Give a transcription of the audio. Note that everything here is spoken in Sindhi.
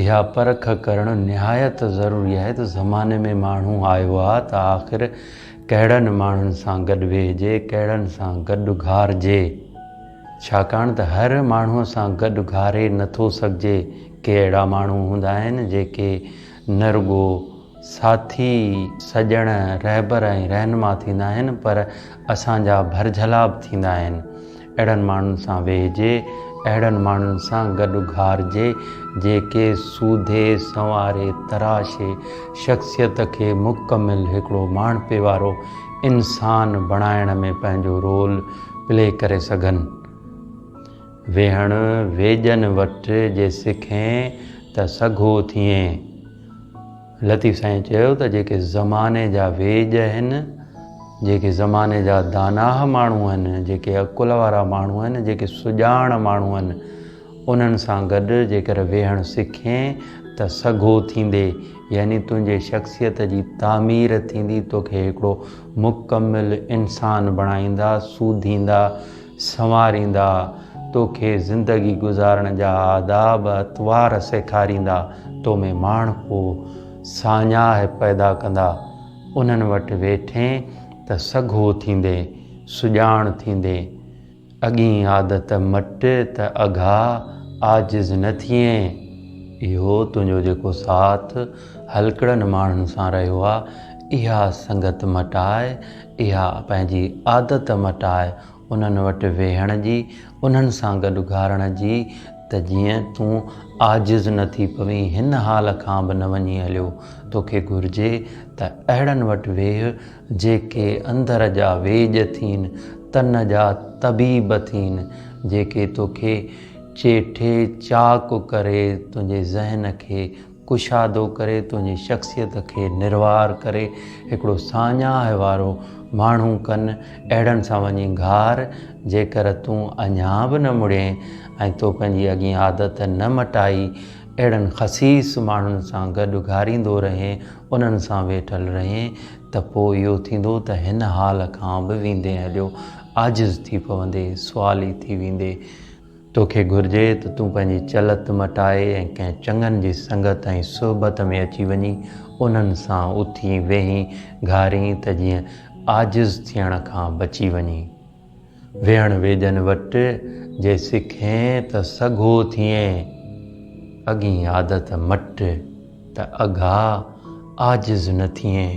اها پرک ڪرڻ نهايت ضروري آهي ته زماني ۾ ماڻهو آيو آهي ته آخر ڪهڙن ماڻهن سان گڏ ويهجي ڪهڙن سان گڏ گهارجي ڇاڪاڻ ته هر ماڻهوء سان گڏ گهاري نه ٿو سگهجي. ڪي اهڙا ماڻهو هوندا آهن، جيڪي نه رڳو ساٿي، سڄڻ، رهبر ۽ رهنما ٿيندا آهن، پر اسان جا ڀرجهلا به ٿيندا آهن. اهڙن ماڻهن سان ويهجي، اهڙن ماڻهن سان گڏ گهارجي، جيڪي سوڌي، سنواري، تراشي شخصيت کي مڪمل هڪڙو ماڻهپي وارو انسان بڻائڻ ۾ پنهنجو رول پلي ڪري سگهن. ويهڻ ويڄن وٽ جي سکين ته سگهو ٿئين. لطيف سائين چيو ته جيڪي زماني جا ويڄ آهن، جيڪي زماني جا داناهه ماڻهو آهن، جيڪي عقل وارا ماڻهو آهن، جيڪي سڄاڻ ماڻهو آهن، انهن سان گڏ جيڪر ويهڻ سکين ته سگهو ٿيندي يعني تنهنجي شخصيت جي تعمير ٿيندي توکي هڪڙو مڪمل انسان بڻائيندا سوڌيندا سنواريندا توکي زندگي گذارڻ جا آداب اطوار سيکاريندا تو ۾ ماڻهپو ساڃاهه پيدا ڪندا انهن وٽ ويٺين ته سگهو ٿيندي سڄاڻ ٿيندي اڳئين عادت مٽ ته اگها عاجز نه ٿئين. اهو تنهنجو جيڪو ساٿ هلڪڙن ماڻهن سان رهيو آ، اها سنگت مٽاء، اها پنهنجي عادت مٽاء، انهن وٽ ويهڻ جي، انهن سان گڏ گهارڻ جي ته جيئن تون عاجز نه ٿي پوين، هن حال کان به نه وڃي هليو، توکي گهرجي ته اهڙن وٽ ويهه، جيڪي اندر جا ويڄ ٿين، تن جا طبيب ٿين، جيڪي توکي چيٺي چاق ڪري، تنهنجي ذهن کي ڪشادو ڪري، تنهنجي شخصيت کي نروار ڪري، هڪڙو ساڃاهه وارو ماڻهو ڪن، اهڙن سان وڃي گهار، جيڪر تون اڃا به نه مڙين ۽ تو پنهنجي اڳين عادت نه مٽائي، اهڙن خسيس ماڻهن سان گڏ گهاريندو رهين، انهن سان ويٺل رهين ته پوء اهو ٿيندو ته هن حال کان به ويندين هليو عاجز ٿي پوندي سوالي ٿي ويندي. توکي گهرجي ته تون پنهنجي چلت مٽائي ۽ ڪنهن چڱن جي سنگت ۽ صحبت ۾ اچي وڃين انهن سان اٿين ويهين گهارين ته جيئن عاجز ٿيڻ کان بچي وڃين. ويهڻ ويڄن وٽ جي سکين ته سگهو ٿئين، اڳين عادت مٽ ته اگها عاجز نه ٿئين.